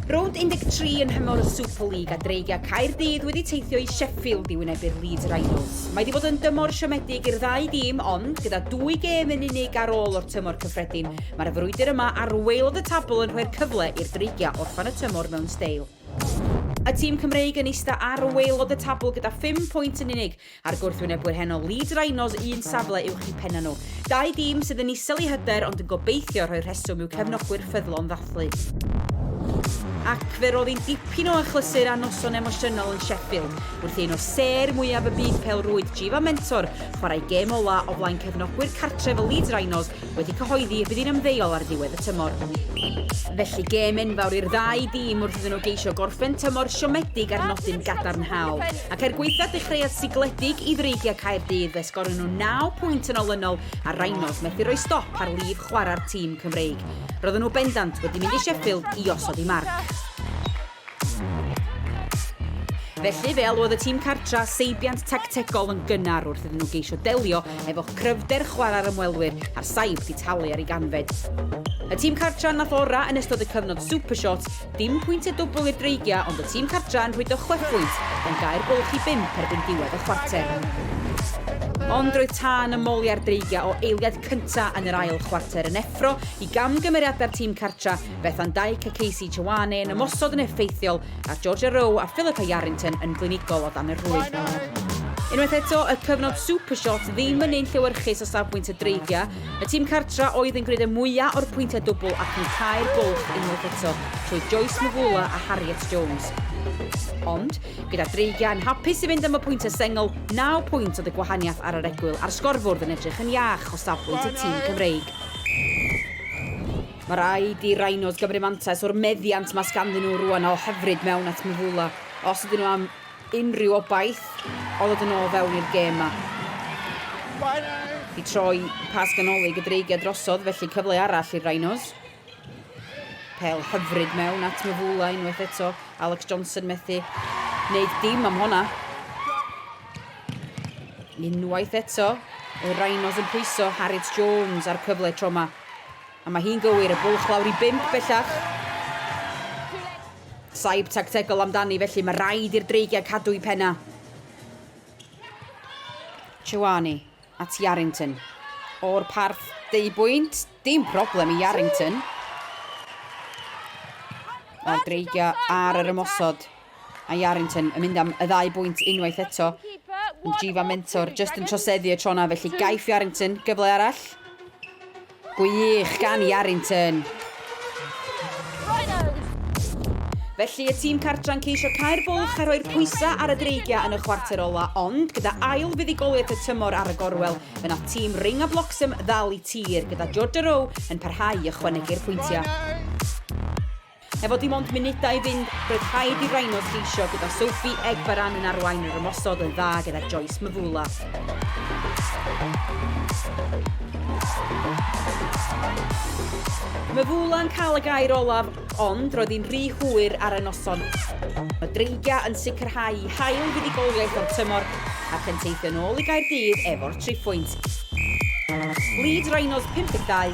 Rownd 13 yn nhymor y Super League a Dreigiau Caerdydd wedi teithio i Sheffield i wynebu'r Leeds Rhinos. Mae wedi bod yn dymor siomedig i'r ddau dîm, ond gyda dwy gêm yn unig ar ôl o'r tymor cyffredin, mae'r frwydr yma ar waelod y tabl yn rhoi'r cyfle i'r Dreigiau orffen y tymor mewn steil. Y tîm Cymreig yn eista ar waelod y tabl gyda 5 pwynt yn unig, A'r gwrthwynebwyr heno, Leeds Rhinos un safle uwch i pennau nhw. Dau dîm sydd yn isel i hyder ond yn gobeithio rhoi rheswm i'w cefnogwyr ffyddlon ddathlu. Ac fe rodd hi'n dipyn o achlysur a noson emosiynol yn Sheffield wrth i un o sêr mwyaf y byd pêl-rwyd, Jiva Mentor, chwarae gêm ola' o flaen cefnogwyr cartref y Leeds Rhinos wedi cyhoeddi y bydd hi'n ymddeol ar ddiwedd y tymor. Felly gêm enfawr i'r ddau dîm wrth iddyn nhw geisio gorffen tymor siomedig ar nodyn gadarnhaol. Ac er gwaethaf dechreuad sigledig i Ddreigiau Caerdydd fe sgorio nhw 9 pwynt yn olynol a Rhinos methu rhoi stop ar lif chwarae'r tîm Cymreig. Roedden nhw bendant wedi mynd i Sheffield i osod i marc. Felly, fe alwodd y tîm cartra seibiant tactegol yn gynnar wrth iddyn nhw geisio delio efo cryfder chwarae'r ymwelwyr a'r saib di talu ar ei ganfed. Y tîm cartra nath ora yn ystod y cyfnod Supershot, dim pwyntiau dwbl i'r Dreigiau ond y tîm cartra yn rhwydo chwepwynt gan gau'r bwlch i bump erbyn diwedd y chwarter. Ond roedd tân y moliau'r Dreigiau o eiliad cynta yn yr ail chwarter yn effro i gamgymeriadau'r tîm cartra Bethan Dyke a Casey Chouane yn ymosod yn effeithiol ar Georgia Rowe a Philippa Yarrington yn glinigol o dan y rhwyd. Unwaith eto, y cyfnod Supershot ddim yn un llewyrchus o safbwynt y dreigiau. Y tîm cartra oedd yn gwneud y mwyaf o'r pwyntiau dwbl ac yn cau'r bwlch unwaith eto trwy Joyce Mvula a Harriet Jones. Ond, gyda dreigiau yn hapus i fynd am y pwyntiau sengl, naw pwynt oedd y gwahaniaeth ar yr egwyl a'r sgorfwrdd yn edrych yn iach o safbwynt y tîm Cymreig. Mae rhaid i Rhinos gymryd mantais o'r meddiant mae sganddyn nhw rwan a o hyfryd mewn at Mvula os ydyn nhw am unrhyw obaith o ddod yn ôl fewn i'r gêm ma. I troi pas ganolig y Dreigiau drosodd felly cyfle arall i'r Rhinos. Pel hyfryd mewn at Mvula unwaith eto. Alex Johnson methu wneud dim am honna. Unwaith eto, y Rhinos yn pwyso Harriet Jones a'r cyfle tro ma. A mae hi'n gywir, y bwlch lawr i bump bellach. Saib tactegol amdani, felly mae rhaid i'r Dreigiau cadw i penna. Chouani at Yarrington. O'r parth, deu bwynt, dim problem i Yarrington. Mae'r Dreigiau ar yr ymosod. A Yarrington yn mynd am y ddau bwynt unwaith eto, ond Jiva Mentor jyst yn troseddu y tro 'na, felly gaiff Yarrington gyfle arall. Gwych gan Yarrington! Felly y tîm cartra'n ceisio cael bwlch a rhoi'r pwysau ar y Dreigiau yn y chwarter ola, ond gyda ail fuddugoliaeth y tymor ar y gorwel, fe nath tîm Ring a Bloxham ddal i tir, gyda Georgia Rowe yn parhau i ychwanegu'r pwyntiau. Efo dim ond munudau i fynd, roedd rhaid i Rhinos geisio gyda Sophie Egbaran yn arwain yr ymosod yn dda gyda Joyce Mvula. Mvula yn cael y gair olaf, ond roedd hi'n rhy hwyr ar y noson. Mae Dreigiau yn sicrhau i hail fuddugoliaeth o'r tymor ac yn teithio nôl i Gaerdydd efo'r triphwynt. Lead Rhinos 52,